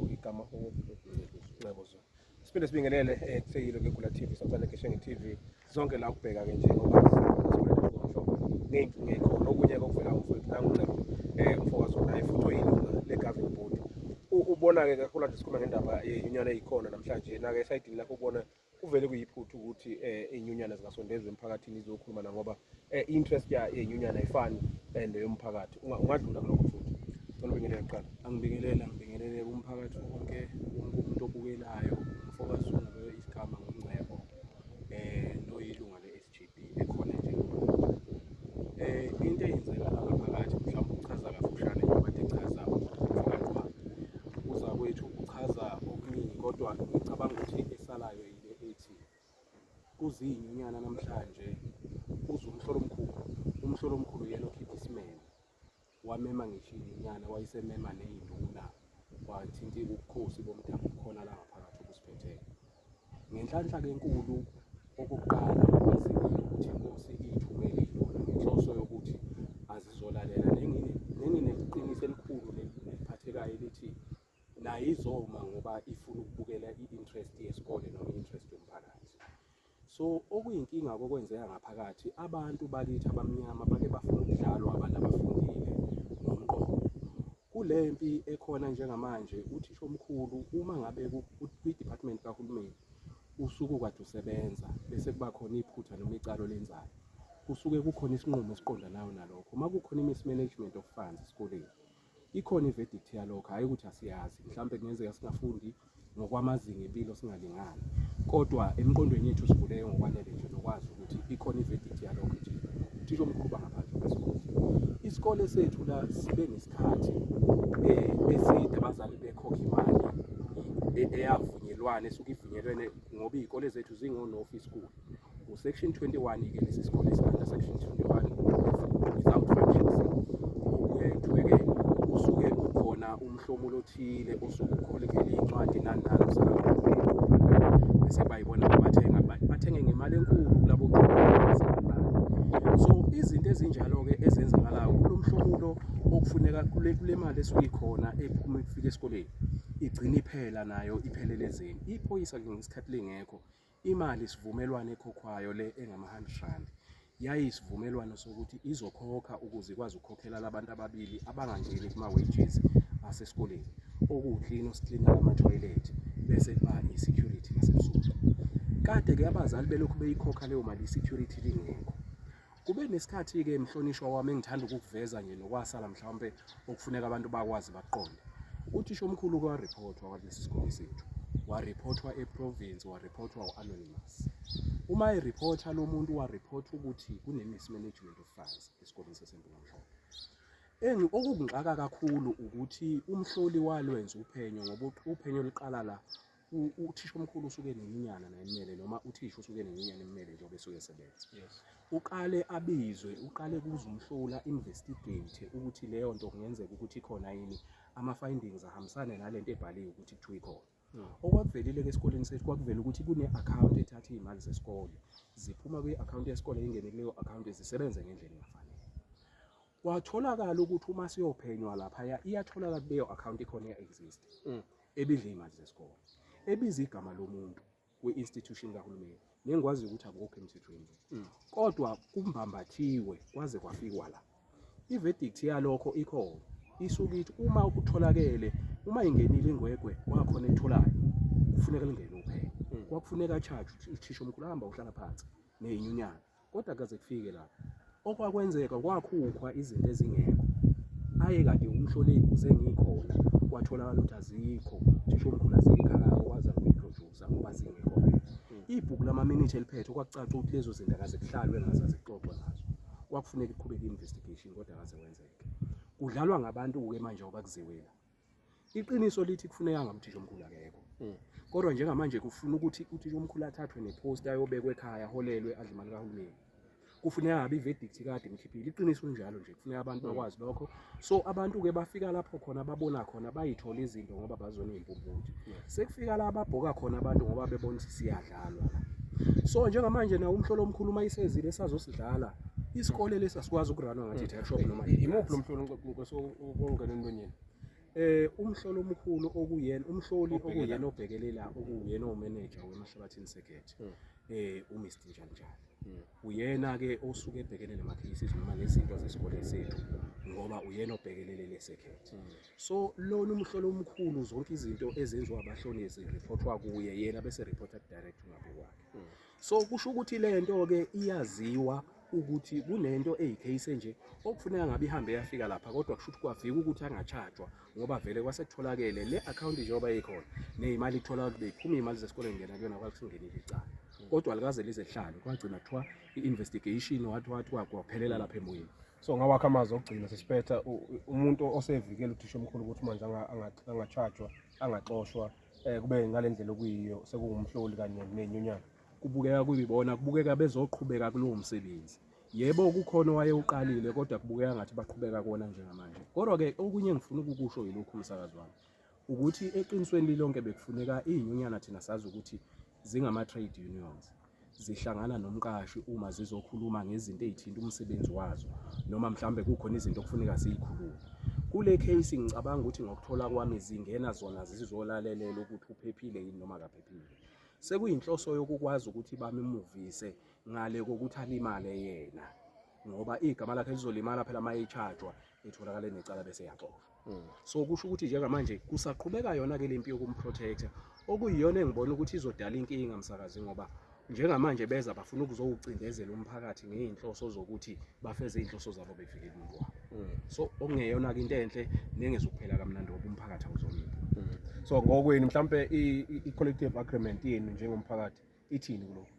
igama Nxebezo siphinde sibingelele eh, kusekile kegula TV samsane keshenge TV zonke la ukubheka ke nje ngoba ngeyinkinga ekhona okunye kokuvela umfowethu nangunxebo um eh, umfokazi onaye futhi oyilunga le-governing board ubona-ke kakhulu ade sikhuluma ngendaba ye-union eyikhona namhlanje nake esayidini lakho ubona um kuvele kuyiphutha ukuthi eh, inyunyana zingasondezwa emphakathini izokhuluma na ngoba eh, i-interest ya- yenyunyana ayifani eh, neyomphakathi Unga- ungadlula kulokho futhi cela ubingelele kuqala angibingelele angibingelele umphakathi wonke wonke umuntu obukelayo umfokazi ungabe isigama ngomngcebo um noyilunga le-s GB ekhona nje eh into eyenzeka lapha phakathi mhlawumbe uchaza kafushane njengoba echaza umfakwa uza kwethu uchaza okuningi kodwa ngicabanga ukuthi esalayo yile ethi kuziyinyunyana namhlanje uze umhlolo omkhulu umhlolo omkhulu yena okhipha isimemo wamema ngisho inyana wayisemema neyinduna wathinta ubukhosi bomdabu khona la ngaphakathi obusiphetheyo ngenhlanhla kenkulu okokuqala ukuthi inkosi iyithumele induna ngenhloso yokuthi azizolalela nengineqiniso elikhulu neliphathekayo elithi nayo izoma ngoba ifuna ukubukela i-interest yesikole noma i-interest yomphakathi So okuyinkinga kokwenzeka ngaphakathi abantu bakithi abamnyama bake bafuna ukudlalwa abantu abafundile ngomqondo. Kule mpi ekhona njengamanje uthisha omkhulu uma ngabe kwi-department kahulumeni usuku kade usebenza bese kuba khona iphutha noma icala olenzayo kusuke kukhona isinqumo esiqondanayo nalokho uma kukhona i-mismanagement of funds esikoleni ikhona i-verdict yalokho hhayi ukuthi asiyazi mhlawumbe kungenzeka singafundi ngokwamazinga empilo singalingani kodwa emqondweni yethu sivuleke ngokwanele nje nokwazi ukuthi ikhona i-verdict yalokho nje uthisha omkhulu bangaphandle kwesikole isikole sethu la sibe nesikhathi um eside abazali bekhokha imali e-, eyavunyelwane esuke ivunyelwene ngoba iy'kole zethu zingonofi school uSection 21 ke lesi sikole sibanda Section 21 without financing uyayiqhubekela usuke ukhona umhlomulo othile osuke ukholekhele incwadi nani nani bese bayibona bathenga bathenge ngemali enkulu kulabo so izinto ezinjalo ke ezenzakalayo kulomhlomulo okufuneka kule kule mali esuke ikhona ephuma ifika esikoleni igcina iphela nayo iphelele ezeni iphoyisa ke ngesikhathi lingekho Imali isivumelwano ekhokhwayo le engama-100 rand yayiyisivumelwano sokuthi izokhokha ukuze ikwazi ukukhokhela labantu ababili abangangeni kuma-wages asesikoleni okuwuklina osiklina amathoyilethi bese kuba i-security nasebusuku. Kade-ke abazali belokhu beyikhokha leyo mali i-security lingekho. Kube nesikhathi-ke mhlonishwa wami engithanda ukukuveza nje nokwasala mhlawumpe okufuneka abantu bakwazi baqonde. Uthisha omkhulu wariphothwa walesi sikole sethu, wariphothwa eprovince, wariphothwa u-anonymous. Uma eriphotha lo muntu wariphothwa ukuthi kune-mismanagement of funds esikoleni saseMpulamhlophe. Engi okungixaka kakhulu ukuthi umhloli walwenza uphenyo ngoba uphenyo luqala la uthisha omkhulu usuke nenyunyana naye emele noma uthisha usuke nenyunyana emele njengoba esuke esebenza yes uqale abizwe uqale kuze umhlola investigate ukuthi leyo nto kungenzeka ukuthi ikhona yini ama findings ahambisane nalento ebhaliwe ukuthi kuthiwa ikhona hmm. okwakuvelile-ke esikoleni sethu kwakuvela ukuthi kune-akhawunti ethatha iy'mali zesikole ziphuma kwi-akhawunti yesikole ingene kuleyo akhawunti zisebenze ngendlela engafanele kwatholakala ukuthi uma siyophenywa laphaya iyatholakala kuleyo account ikhona iya-exist mm. ebidla iy'mali zesikole ebiza igama lomuntu kwi-institution kahulumeni nengikwaziyo ukuthi akukho emthethweni mm. kodwa kumbambathiwe kwaze kwafikwa la i-verdict yalokho ikhona isuke ithi uma kutholakele uma ingenile ingwegwe kwakhona etholayo kufuneka lingene uphenyo mm. kwakufuneka charge uthisha omkhulu hamba uhlala phansi neyinyunyana Kodwa kaze kufike la. Okwakwenzeka kwakhukhwa izinto ezingekho. Aye kade umhlole ibuze ngikhona kwatholakala ukuthi azikho. Thisha omkhulu azikhaya okwazi ukuyiproducer ngoba zingekho. Ibhuku lama-minute eliphethe okwakucaca ukuthi lezo zinto akaze kuhlalwe ngazo azixoxwe ngazo. Kwakufuneka iqhubeke i-investigation kodwa akaze wenzeke. Kudlalwa ngabantu-ke manje ngoba kuziwela. iqiniso lithi kufuneka ngamthisha omkhulu akekho hmm. kodwa njengamanje kufuna ukuthi uthisha omkhulu athathwe nepost ayobekwa ekhaya aholelwe adle imali kahulumeni kufuneka ngabe iverdict kade imkhiphile iqiniso linjalo nje kufuneka abantu hmm. bakwazi lokho so abantu ke bafika lapho khona babona khona bayithola izinto ngoba bazona impumputhe sekufika la babhoka khona abantu ngoba bebona ukuthi siyadlalwa so njengamanje nawo umhlolo omkhulu uma isezile sazosidlala isikole lesi asikwazi ukurana ngathi i-shop noma imuphi lo mhlolo ukungena entonyeni eh umhlolo omkhulu okuyena umhloli okuyena obhekelela okuyena omeneja weMahlabathini Circuit hmm. eh uMr Njanjani hmm. uyena ke osuke ebhekene nama cases noma nezinto zesikole sethu ngoba uyena obhekelele le circuit hmm. so lona umhlolo omkhulu zonke izinto ezenziwa abahlonezi reportwa kuye yena bese reported direct ngakuwakhe so kusho ukuthi le nto ke iyaziwa ukuthi kunento eyicase nje okufuneka ngabe ihambe yafika lapha kodwa kusho ukuthi kwavika ukuthi angachajwa ngoba vele kwasekutholakele le account njengoba ikhona nezimali ithola ukuthi beyiphuma imali zesikole ngena kuyona kwakusingenile icala kodwa likaze lize lihlale kwagcina kuthiwa i-investigation wathi wathi kwaphelela lapha emoyeni so ngawakho amazwi okugcina sesiphetha umuntu osevikela uthisha omkhulu ukuthi manje angachajwa angaxoshwa eh kube ngale ndlela okuyiyo sekungumhloli kanye nenyunyana kubukeka kuyibona kubukeka bezoqhubeka kulowo msebenzi yebo kukhona owayewuqalile kodwa kubukeka ngathi baqhubeka kona njengamanje kodwa-ke okunye engifuna ukukusho yilokhu msakazi wami ukuthi eqinisweni lilonke bekufuneka iy'nyunyana thina sazi ukuthi zingama-trade unions zihlangana nomqashi uma zizokhuluma ngezinto ey'thinta umsebenzi wazo noma mhlawumbe kukhona izinto okufuneka ziyikhulume kule case ngicabanga ukuthi ngokuthola kwami zingena zona zizolalelela ukuthi uphephile yini noma akaphephile sekuyinhloso yokukwazi ukuthi bamimuvise ngale kokuthi alimale yena ngoba igama lakhe lizolimala phela uma echajwa etholakale necala bese yaxoshwa Mm. so kusho ukuthi njengamanje kusaqhubeka yona-ke le mpi yokumprotector okuyiyona engibona ukuthi izodala inkinga msakazi ngoba njengamanje beza bafuna ukuzowucindezela umphakathi ngey'nhloso zokuthi bafeze iy'nhloso zabo befike kubo mm. so okungeyona-ke into enhle nengezukuphela kamnandi ngoba umphakathi awuzonile mm. so ngokwenu mhlawumpe i-collective agreement yenu njengomphakathi ithini kulokho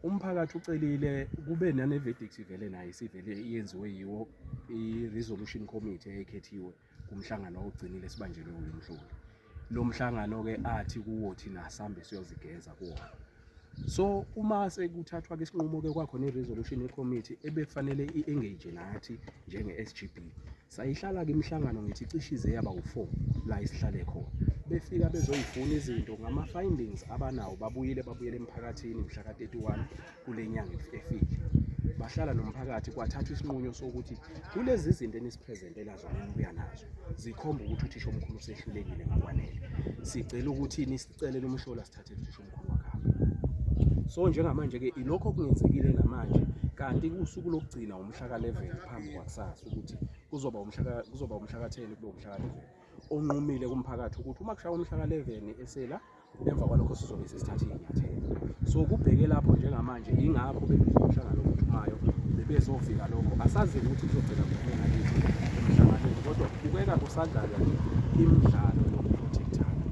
umphakathi ucelile kube nane verdict ivele naye sivele iyenziwe yiwo i-resolution committee eyekhethiwe kumhlangano ogcinile sibanjelwe uyu mhloli lo mhlangano ke athi kuwo thina sambe siyozigeza kuwona so uma sekuthathwa ke isinqumo ke kwakhona i-resolution committee ebekufanele i-engage nathi njenge-SGB Sayihlala-ke imihlangano ngithi cishe ize yaba u-four la isihlale khona. Befika bezoyifuna izinto ngama-findings abanawo babuyile babuyele emphakathini mhla ka-31 kule nyanga efile. Bahlala nomphakathi kwathathwa isinqumo sokuthi kulezi zinto enisiphrezentelwa zona enibuya nazo zikhomba ukuthi uthisha omkhulu usehlulekile ngokwanele. Sicela ukuthi Celeni umhlola sithathe cisho umkhulu wakhe. So njengamanje ke ilokho okungenzekile namanje kanti kusuku lokugcina umhla ka 11 phambi kwakusasa ukuthi kuzoba umhla ka- kuzoba umhla ka 10 kube umhla ka 11 onqumile kumphakathi ukuthi uma kushaya umhla ka 11 esela emva kwalokho sizobe sesithathe inyathelo. So kubheke lapho njengamanje Yingakho bekunomhlangano ophuthumayo bebezovika lokho. Asazi ukuthi kuzogcina kuphela kithi emhlanganweni kodwa kubukeka kusadlalwa imidlalo yokuprotectana.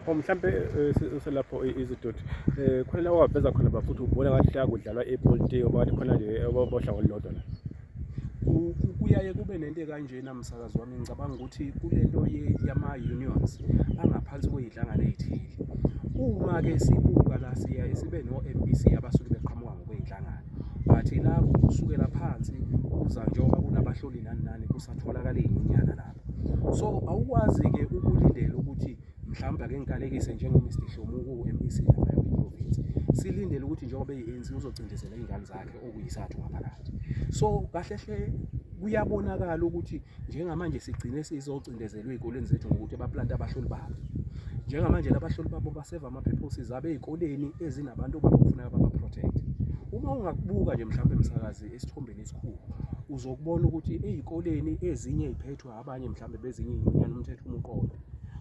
Oh, mhlampe eh, selapho izidoti eh, khona la owaveza khona bafuthu ubona ngathi la kudlalwa ipolitiki phakathi khona nje eh, bohlango olulodwa la Kuyaye kube nento ekanjena msakazi wami ngicabanga ukuthi kule nto yama-unions angaphansi kwey'nhlangano ey'thile. Uma-ke sibuka la siyaye sibe no-M_B_C abasuke beqhamuka ngokwey'nhlangano but la kusukela phansi kuza njengoba kunabahloli nani nani kusatholakala iy'nyunyana lapho. So awukwazi-ke ukulindela ukuthi. mhlawumbe ake ngikalekise njengoMr Dihlomo uku-MEC lapha kwiprovince silindele ukuthi njengoba eyi-ANC uzocindezela iy'ngane zakhe okuyisathu ngaphakathi so kahle hle kuyabonakala ukuthi njengamanje sigcine sizocindezelwa ey'koleni zethu ngokuthi baplante abahloli babo njengamanje labahloli babo baseva ama-purposes abe ey'koleni ezinabantu okufuneka baba-protect uma ungakubuka nje mhlawumbe msakazi esithombeni esikhulu uzokubona ukuthi ey'koleni ezinye ey'phethwe kuthiwa abanye mhlawumbe bezinye inyunyana umthetho umuqondo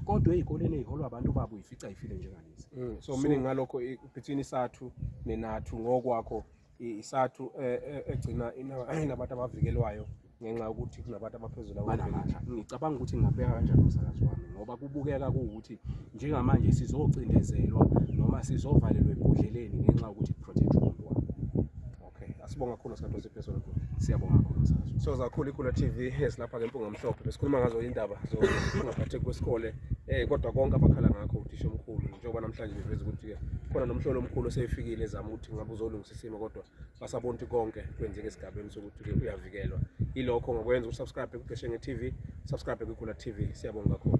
kodwa ezikoleni eziholwa abantu babo uyifica ifile njengalezi mm, so mina ngalokho between isathu nenathu ngokwakho isathu eh, eh, egcina inabantu abavikelwayo ngenxa yokuthi kunabantu abaphezulu abanamandla ngicabanga ukuthi ngingabeka kanjani umsakazi wami ngoba kubukeka kuwukuthi njengamanje sizocindezelwa noma sizovalelwa ebhodleleni ngenxa yokuthi protect Okay, asibonga kakhulu sikhathi osiphe sona futhi. Siyabonga kakhulu sazo. So zakhulu ikhula TV esilapha ke mpunga mhlophe. Besikhuluma ngazo indaba zokungaphatheki kwesikole eh kodwa konke abakhala ngakho uthisha omkhulu njengoba namhlanje beveza ukuthi ke khona nomhlolo omkhulu osefikile ezama ukuthi ngabe uzolungisa isimo kodwa basabona ukuthi konke kwenzeka esigabeni sokuthi ke uyavikelwa. Ilokho ngokwenza usubscribe kuGeshe nge TV, subscribe kuKhula TV. Siyabonga kakhulu.